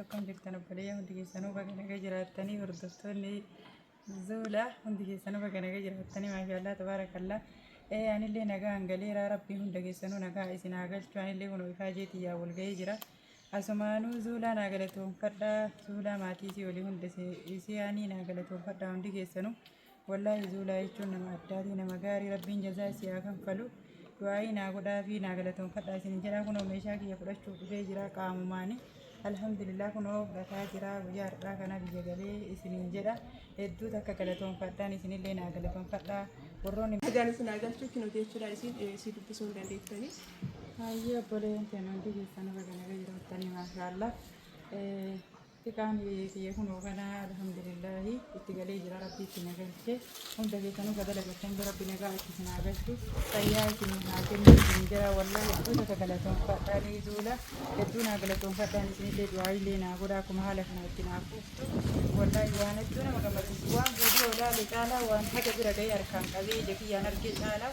Akkam jirtan obboleeyyaa hundi keessanuu baga naga jiraattanii hordoftoonni zuula hundi keessanuu baga naga jiraattanii maashaallah tabaarakallaa ee anillee nagaa hangaleeraa rabbiin hunda keessanuu nagaa isin haa galchu anillee kun ifaa jeetii yaa wal ga'ee jira asumaanuu zuulaa naa galatoonfadhaa zuulaa maatii isii olii hunda isii aanii naa galatoonfadhaa hundi keessanuu Wallaahi zuulaa jechuun nama addaatii nama gaarii rabbiin jazaa isii haa kanfalu du'aa'ii naa godhaa fi naa galatoonfadhaa isin jedhaa kunoo meeshaa kiyya fudhachuuf dhufee jira qaamumaani alhamdulillah kunoo fudhataa jira guyyaa har'aa kana biyya galee isiniin jedha hedduu takka galatoonfadhaan isinillee naa galatoonfadhaa warroonni Nagaan isin haa galchu kino jechuudha isin eh, si dubbisuu hin dandeettani. Hayyee obboleen keenya hundi keessan irra ganaga jiraattanii maashaallah. Xiqaan kiyya kunoo kana alhamdulillahi itti galee jira rabbi itti na galche hunda keessanuu ka dalagatan rabbi nagaa itti isin haa galchu fayyaa isin haa kennu isin jira wallahi hedduu takka galatoonfadhaan duula hedduu naa galatoonfadhaan isinillee du'aayilee naa godha akkuma haala kana itti naa fuuftu wallahi waan hedduu nama gammachiisu waan viidiyoo ilaale caalaa waan haga bira ga'ee harkaan qabee ija kiyyaan argee caalaa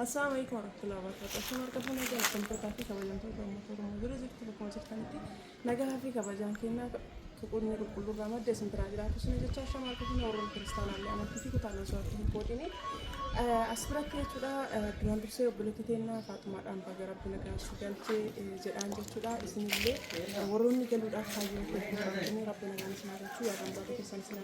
Assalamu alaikum warahmatullahi wabarakatuh. Akkuma argamu nagaa argamtootaa fi kabajamtoota uummata Oromoo bira jirtu bakkuma jirtanitti nagaa fi kabajaan kennaa tuqunni qulqulluu irraa madda isin biraa jiraatu isin jecha shama argamu warra kiristaanaallee amantii fi kutaan osoo adda hin qoodine as biratti jechuudha duraan dursee obboleetti teennaa faaxumaadhaan baga rabbi nagaan si galchee jedhaan jechuudha isinillee warroonni galuudhaaf kaayyoo keessatti rabbi nagaan isin haa galchu yaadaan baatu keessan isin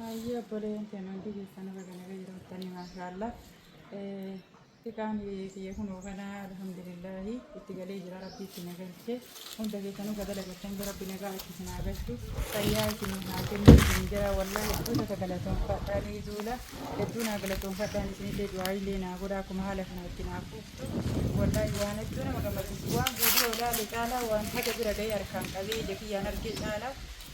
Hayyee obboleeyyan keenya hundi keessanuu baga naga jiraattanii maashaallah. Xiqaan kiyya kunoo kana alhamdulillaahi itti galee jira rabbi itti na galche. Hunda keessanuu ka dalagattan jira rabbi nagaa itti isin haa galchu. Fayyaa isin haa kennu isin jira wallahi hedduu takka galatoonfadhaa ni duula. Hedduu naa galatoonfadhaan isinillee du'aayiillee naa godha akkuma haala kana itti naa fuuftu. Wallahi waan hedduu nama gammachiisu waan viidiyoo ilaale caalaa waan haga bira ga'ee harkaan qabee ija kiyyaan argee caalaa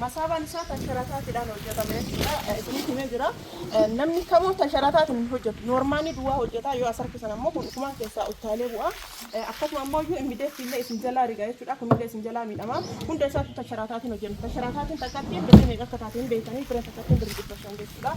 Masaabaan isaa tansharaataatiidhaan hojjetame jechuudha. Isinitti himee jira. Namni kamuu tansharaataatiin hin hojjetu. Noormaanii duwwaa hojjetaa yoo as harkisan ammoo kun ukumaan keessaa uttaalee bu'a. Akkasuma ammoo iyyuu immideetti illee isin jalaa riga jechuudha. Kun illee isin jalaa miidhama. Hunda isaatu tansharaataatiin hojjenne. Tansharaataatiin takkatti birrii meeqa akka taate hin beektanii birrii takkattiin birrii dhibba shan jechuudha.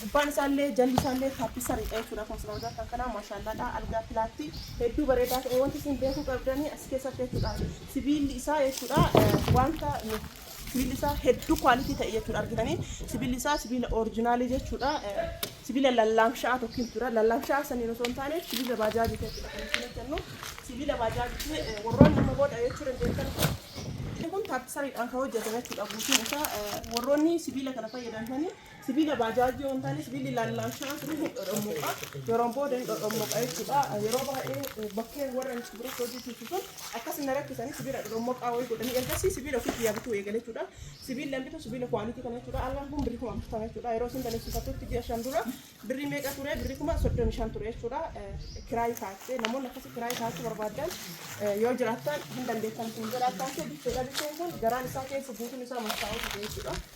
Gubbaan isaallee jalli isaallee taappissa riphee jechuudha akkuma isin argitan kan kanaa maashaallaadha algaa pilaatti hedduu bareedaa ta'e wanti isin beekuu qabdanii as keessatti jechuudha sibiilli isaa jechuudha wanta sibiilli isaa hedduu kwaalitii ta'e jechuudha argitanii sibiilli isaa sibiila orijinaalii jechuudha sibiila lallaamsha'aa tokko jechuudha lallaamsha'aa saniin osoo hin taane sibiila baajaajii jechuudha kan isin hojjennu sibiila baajaajii warroonni nama booda jechuu dandeettan kun taappissariidhaan kan hojjetame jechuudha guutuun isaa warroonni sibiila kana fayyadamtanii Sibiila baajaajii yoo hin taane sibiilli lallaashaa sun ni dhodhommoqa. Yeroon booda ni dhodhommoqa jechuudha. Yeroo baay'ee bakkee warra sibiila hojjechiisu sun akkas na rakkisanii sibiila dhodhommoqaa wayii godhanii ergasii sibiila ofii kiyyaa bituu eegale jechuudha. Sibiilli an bitu sibiila kwaalitii kana jechuudha. Allaan kun birrii kuma afurtama jechuudha. Yeroo isin balleessifattutti ji'a shan dura birrii meeqa ture birrii kuma soddomi shan ture jechuudha. Kiraayii kaa'attee namoonni akkasii kiraayii kaa'achuu barbaaddan yoo jiraattan hin dandeettan kun godha akka ta'e bitteedha bitteen kun garaan isaa keessa guutuun isaa mattaa'uu dide jechuudha.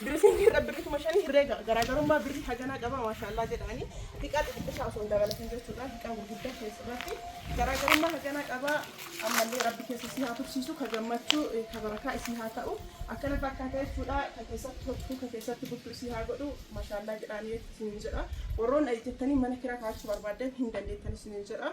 Dressing irra birri kuma shanii herreega garaagarummaa birri haganaa qaba maashaallah jedhaani hiqaa xixiqqishaa osoo hin dabalatin jechuudha hiqaa gurguddaa keessa irratti garaagarummaa haganaa qaba ammallee rabbi keessa isii haa tursiisu ka gammachuu eh, ka barakaa isii haa ta'u akkana fakkaata jechuudha ka keessatti hojjetu ka keessatti bultu isii haa godhu maashaallah jedhaani isiniin jedha warroon eh, jettanii mana kiraa kaachuu barbaaddan hin dandeettan isiniin jedha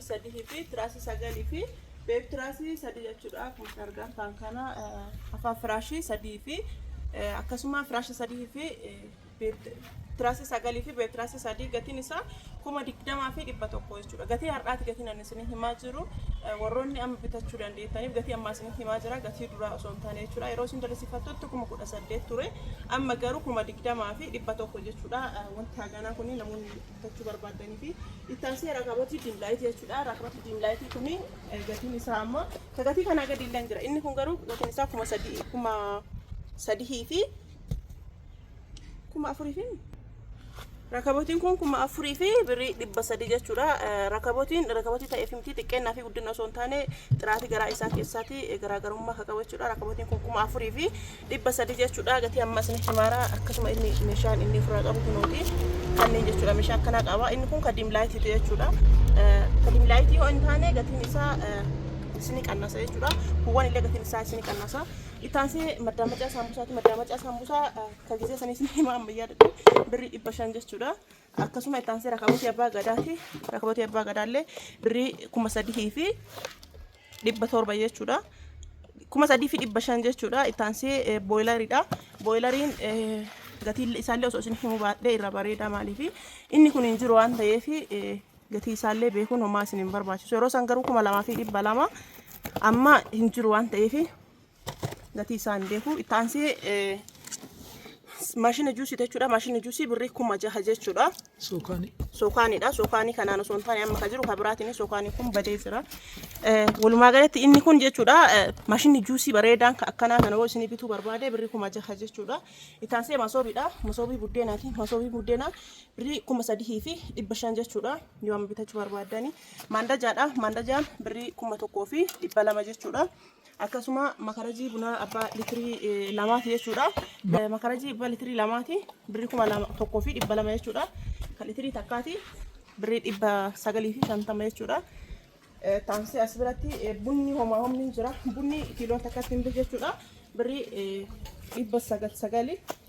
sadihii fi tiraasii sagalii fi beeb tiraasii sadii jechuudha akkuma argaan ta'an kana afaan firaashii sadii fi akkasuma firaashii sadii fi tiraasii sagalii fi beeb tiraasii sadii gatiin isaa kuma digdamaa fi dhibba tokko jechuudha gatii har'aati gatiin ani isin himaa jiru warroonni amma bitachuu dandeettaniif gatii ammaa isin himaa jira gatii duraa osoo hin taane jechuudha yeroo isin dalisifattutti kuma kudha saddeet ture amma garuu kuma digdamaa fi dhibba tokko jechuudha wanti haganaa kun namoonni bitachuu barbaaddanii fi itti aansee rakabatii diimlaayitii jechuudha. Rakabatii diimlaayitii kun gatiin isaa amma ka gatii kanaa gadi illee jira. Inni kun garuu gatiin isaa kuma sadii kuma sadihii fi kuma afurii fi rakabotiin kun kuma afurii fi birrii dhibba sadii jechuudha. Rakabotiin rakabotii ta'eef miti xiqqeennaa fi guddina osoo hin taane xiraatii garaa isaa keessaatii garaagarummaa akka qabu jechuudha. Rakabotiin kun kuma afurii fi dhibba sadi jechuudha gatii amma isinitti himaara akkasuma inni meeshaan inni ofirraa qabu kunooti kanneen jechuudha meeshaa akkanaa qaba inni kun kadiim laayitiitu jechuudha kadiim laayitii yoo hin taane gatiin isaa isini qannasa jechuudha buwwan illee gatiin isaa isini qannasa ittaansi maddaa macaa saambusaati maddaa macaa saambusaa kan gisee sanii isini hima ammayyaa dadhu birrii dhibba shan jechuudha Akkasuma itti aansee rakabotii abbaa gadaati. Rakabotii abbaa gadaallee birrii kuma sadii fi dhibba torba jechuudha. Kuma sadii fi dhibba shan jechuudha. Itti aansee booyilaridha. Booyilariin gatiin isaallee osoo isin himuu baadhee irra bareedaa maaliifi inni kun hin jiru waan ta'eef gatii isaallee beekuun homaa isin hin barbaachisu. Yeroo san garuu kuma lamaa fi dhibba lama amma hin jiru waan ta'eef gatii isaa hin beeku. Itti aansee eh, maashina juusii jechuudha. Maashina juusii birrii kuma jaha jechuudha. Sookaani. Sookaanidha. Sookaanii kanaan osoo hin taane amma kan jiru kan biraatiin sookaanii kun badee jira. Eh, Walumaa galatti inni kun jechuudha eh, maashinni juusii bareedaan kan akkanaa kana yoo isinii bituu barbaade birrii kuma jaha jechuudha. Itti aansee masoobiidha. Masoobii buddeenaati. Masoobii buddeenaa birrii kuma sadihii fi dhibba shan jechuudha. Yoo amma bitachuu barbaadani. Maandajaadha. Maandajaan birrii kuma tokkoo fi dhibba lama jechuudha. akkasuma makarajii bunaa abbaa litirii eh, lamaati jechuudha. Eh, Makarajii abbaa litirii lamaati birri kuma lama tokkoo fi dhibba lama jechuudha. Kan litirii takkaati birri dhibba sagalii fi shantama jechuudha. Eh, Taansii as biratti eh, bunni homaa homni hin jira. Bunni kiiloon takkatti hin bitu jechuudha. Birri eh, dhibba sagal sagali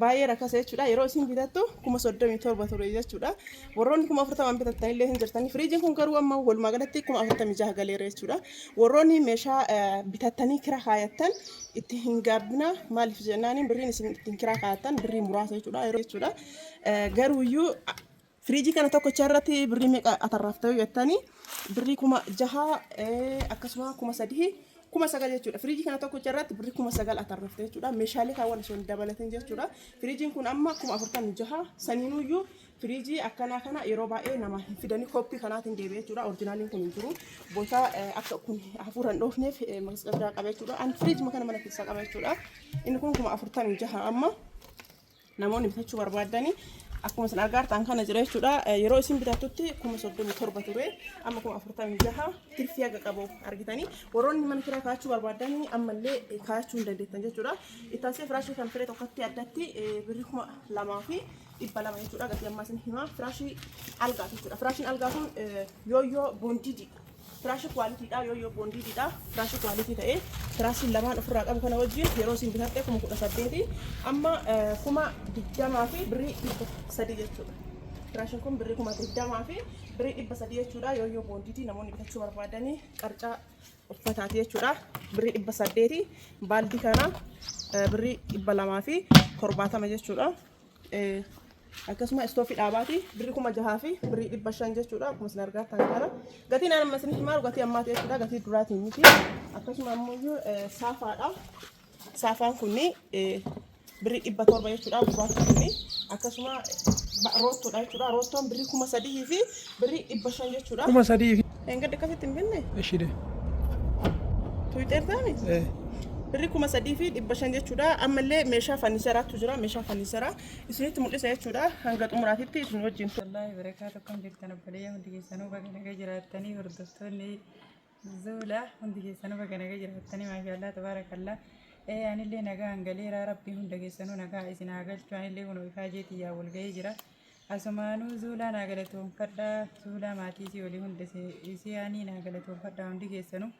baay'ee rakkasa jechuudha. Yeroo isin bitattu kuma soddomii torba ture jechuudha. Warroonni kuma afurtamaan bitattan illee hin jirtani. Firiijiin kun garuu amma walumaa galatti kuma afurtamii jaha galeera jechuudha. Warroonni meeshaa bitattanii kira kaayattan itti hin gaabbina maaliif jennaaniin birriin isin ittiin kira kaayattan birrii muraasa jechuudha. Yeroo jechuudha. Garuuyyuu Firiijii kana tokkocha irratti birrii meeqa atarraafta yoo jettani birrii kuma jaha akkasuma kuma sadii kuma sagal jechuudha. Firiijii kana tokkocha irratti birrii kuma sagal atarraafta jechuudha. Meeshaalee kaawwan osoo hin dabalatin jechuudha. Firiijiin kun amma kuma afurtamii jaha saniinuyyuu firiijii akkanaa kana yeroo baay'ee nama hin fidani koppii kanaatiin deebi'e jechuudha. Orjinaaliin kun hin jiru. Boota akka kun hafuura hin dhoofneef masqaldaa qaba jechuudha. An firiijii kana mana keessaa qaba jechuudha. Inni kun kuma afurtamii jaha amma. Namoonni bitachuu barbaaddani akkuma isin argaa jirtan kana jira jechuudha. Eh, Yeroo isin bitattutti kuma soddomii torba ture amma kuma afurtamii jaha tirfii haga qabu argitanii warroonni mana kiraa kaachuu barbaaddani ammallee eh, kaachuu hin dandeettan jechuudha. Ittaasee firaashii kan firee tokkotti addatti eh, birri kuma lamaa fi dhibba lama jechuudha. Gatii ammaa isin himaa firaashii algaati jechuudha. Firaashiin algaa kun eh, yooyyoo boondiididha. Firaashii kuwaalitiidhaa yoo yoo boondiididhaa firaashii kuwaalitii ta'ee firaashiin lamaan ofirraa qabu kana wajjin yeroo isin bitatte kuma kudha saddeeti amma kuma digdamaa fi birrii dhibba sadii jechuudha. Firaashiin kun birrii kuma digdamaa fi birrii dhibba sadii jechuudha yoo yoo boondiitii namoonni bitachuu barbaadanii qarcaa uffataati jechuudha birrii dhibba saddeeti baaldii kana birrii dhibba lamaa fi torbaatama jechuudha. akkasuma istoofii dhaabaati birri kuma jahaa fi birri dhibba shan jechuudha akkuma isin argaa kan kana gatiin amma isin himaaru gatii ammaati jechuudha gatii duraatiin miti akkasuma ammoo saafaadha saafaan kunni birri dhibba torba jechuudha gurraachi kunni akkasuma roottoodha jechuudha roottoon birri kuma sadii fi Birrii dhibba shan jechuudha. Kuma sadii fi. Dheengadda akkasitti hin binne? Eshide. Tuwixeertaani? Eh. Birrii kuma sadii fi dhibba shan jechuudha. Ammallee meeshaa fanniseraatu jira. Meeshaa fanniseraa isinitti mul'isa jechuudha. Hanga xumuraatitti isin wajjin. Wallaahi barakaatu akkam jirtan obboleeyyaa hundi keessanuu baga naga jiraattanii hordoftoonni Zuula hundi keessanuu baga naga jiraattanii maashaallah tabaarakallah ee anillee nagaa hangaleera rabbii hunda keessanuu nagaa isin haa galchu anillee kunoo ifaa jeetii yaa wal ga'ee jira asumaanuu zuulaa naa galatoonfadha zuulaa maatii isii olii hunda isii aanii naa galatoonfadha hundi keessanuu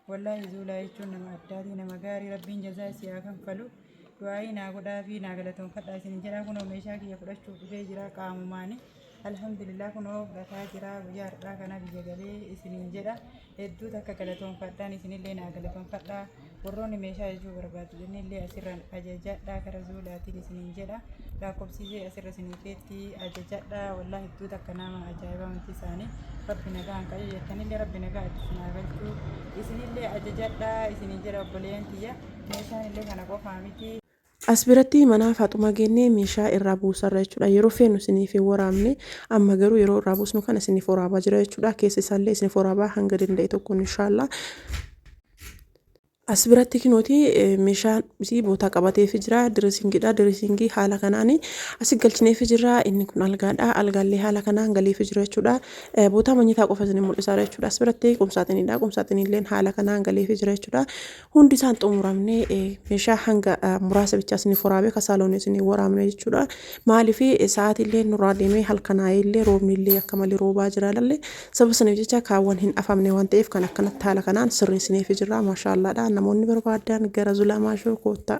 wallaahi zuulaa jechuun nama addaatii nama gaarii rabbiin jazaa isii haa kanfalu du'aa'ii naa godhaafii naa galatoonfadhaa isinin jedhaa kunoo meeshaa kiyya fudhachuuf dhufee jira qaamumaani alhamdulillah kunoo fudhataa jira guyyaa har'aa kana biyya galee isinin jedha hedduu takka galatoonfadhaan isinillee naa galatoonfadhaa warroonni meeshaa ajajuu barbaadu jennillee asirraan ajajadhaa kara zuulaatiin isinin jedha lakkoofsisee asirra isinii keetti ajajadhaa wallaa hedduu takka nama ajaa'ibaa wanti isaanii rabbi nagaa hin qayyee jettanillee rabbi nagaa itti isin haa galchuu isinillee ajajadhaa isinin jedha obboleeyyan kiyya Meeshaan illee kana qofaa miti. As biratti manaa faaxumaa geennee meeshaa irraa buusarra jechuudha yeroo feenu isiniif hin waraabne amma garuu yeroo irraa buusnu kana isiniif waraabaa jira jechuudha keessa isaallee isiniif waraabaa hanga danda'e tokkoon inshaallaa as biratti kinooti meeshaan isii bootaa qabateefi jira direesingidha direesingii haala kanaan asi galchineefi jira inni kun algaadha algaallee haala kanaan galeefi jira jechuudha bootaa manyitaa qofa isin mul'isaara jechuudha as biratti qumsaaxinidha qumsaaxinilleen haala kanaan galeefi jira jechuudha Hundi isaan xumuramne meeshaa hanga muraasa bichaa isin furaamee ka saaloonii isin waraabne jechuudha. Maaliif sa'aatii illee nurraa deemee halkanaa'ee illee roobni illee akka malee roobaa jira lalle sababa saniif jecha kaawwan hin afamne waan ta'eef kan akkanatti haala kanaan sirreessineef jirra maashaallaadha namoonni barbaadan gara zulaa maashoo koottaa.